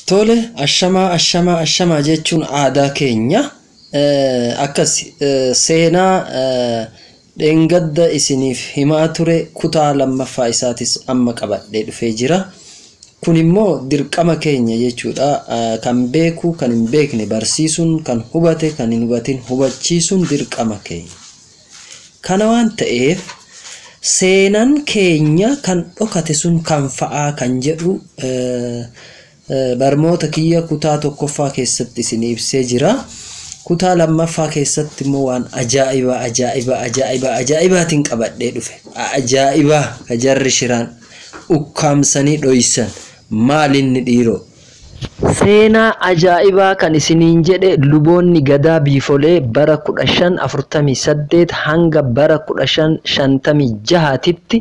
Tole ashamaa ashamaa ashamaa jechuun aadaa keenya Eh, akkas eh, seenaa eh, dheengadda isiniif himaa ture kutaa lammaffaa isaatis amma qabadhee dhufee jira. Kun immoo dirqama keenya jechuudha. Eh, Kan beeku kan hin beekne barsiisuun kan hubate kan hin hubatin hubachiisuun dirqama keenya. Kana waan ta'eef seenan keenya kan dhokate sun kam fa'aa kan jedhu barmoota kiyya kutaa tokkoffaa keessatti isinii ibsee jira. Kutaa lammaffaa keessatti immoo waan ajaa'ibaa ajaa'ibaa ajaa'ibaa ajaa'ibaatiin qabadhee dhufe. Ajaa'ibaa ka jarri shiraan ukkaamsanii dhoysan maalinni dhiiroo? Seenaa ajaa'ibaa kan isiniin jedhe luboonni Gadaa Biifolee bara 1548 hanga bara 1556 titti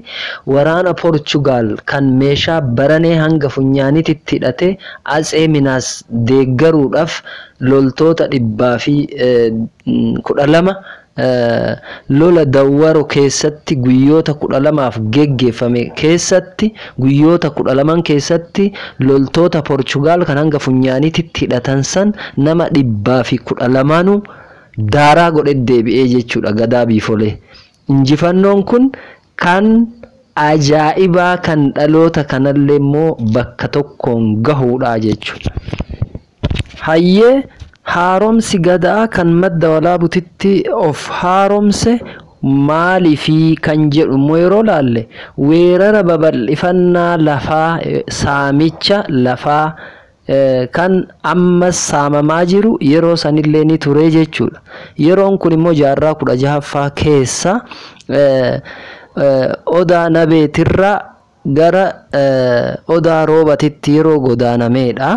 waraana Porchugaal kan meeshaa baranee hanga funyaanititti hidhate Atsee Minaas deeggaruudhaaf loltoota 12,000 Lola Dawwaro keessatti guyyoota 12f geggeeffame keessatti guyyoota 12n keessatti loltoota Porchugaal kan hanga funyaaniititti hidhatan san nama 112'nu daaraa godhe deebi'ee jechuudha Gadaa Biifolee. Injifannoon kun kan ajaa'ibaa kan dhaloota kanallee immoo bakka tokkoon gahuudha jechuudha. Hayyee haaromsi Gadaa kan Madda Walaabutitti of haaromse maaliifi kan jedhu immoo yeroo laalle weerara babal'ifannaa lafaa, saamicha lafaa kan ammas saamamaa jiru yeroo sanillee ni ture jechuudha. Yeroon kun immoo jaarraa kudha jahaffaa keessa Odaa Nabeetirraa gara Odaa Roobatitti yeroo godaanameedha.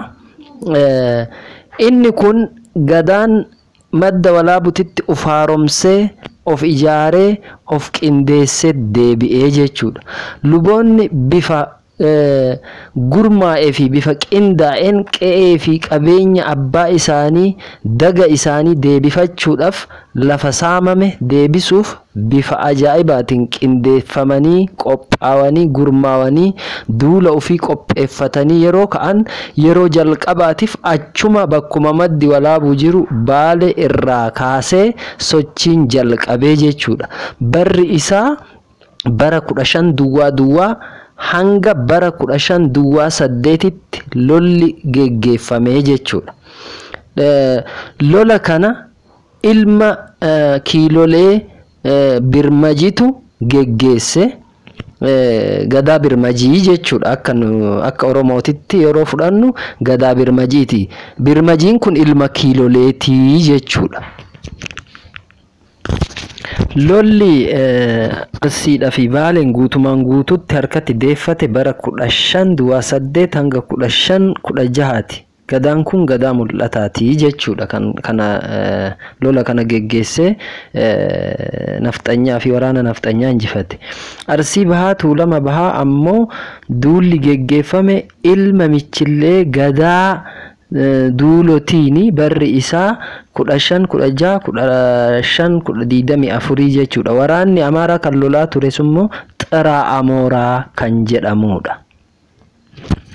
Inni kun Gadaan Madda Walaabutitti of haaromsee, of ijaaree, of qindeessee deebi'e jechuudha. Luboonni bifa gurmaa'ee fi bifa qindaa'een qe'ee fi qabeenya abbaa isaanii, daga isaanii deebifachuudhaaf lafa saamame deebisuuf bifa ajaa'ibaatiin qindeeffamanii, qophaawanii, gurmaawanii duula ofii qopheeffatanii yeroo ka'an yeroo jalqabaatiif achuma bakkuma maddi walaabuu jiru Baale irraa kaasee sochiin jalqabee jechuudha. Barri isaa bara 15 duwwaa duwwaa hanga bara 15 duwwaa 8tti lolli geggeeffamee jechuudha. Lola kana. Ilma Kiilolee Birmajitu geggeesse. Gadaa Birmajii jechuudha. Akka nu akka Oromootitti yeroo fudhannu Gadaa Birmajiiti. Birmajiin kun ilma Kiiloleeti jechuudha. Lolli Arsiidhaa fi Baaleen guutumaan guutuutti harkatti deeffate bara 15 Duwaa 8 hanga 15 16ti. Gadaan kun gadaa mul'ataati jechuudha kan kana lola kana geggeessee nafxanyaafi waraana nafxanyaa injifate. Arsii Bahaa Tuulama Bahaa ammoo duulli geggeeffame ilma Michillee Gadaa Duulotiini barri isaa 15, 16, 15, 24 jechuudha. Waraanni Amaaraa kan lolaa turesimmoo Xiraa Amooraa kan jedhamuudha.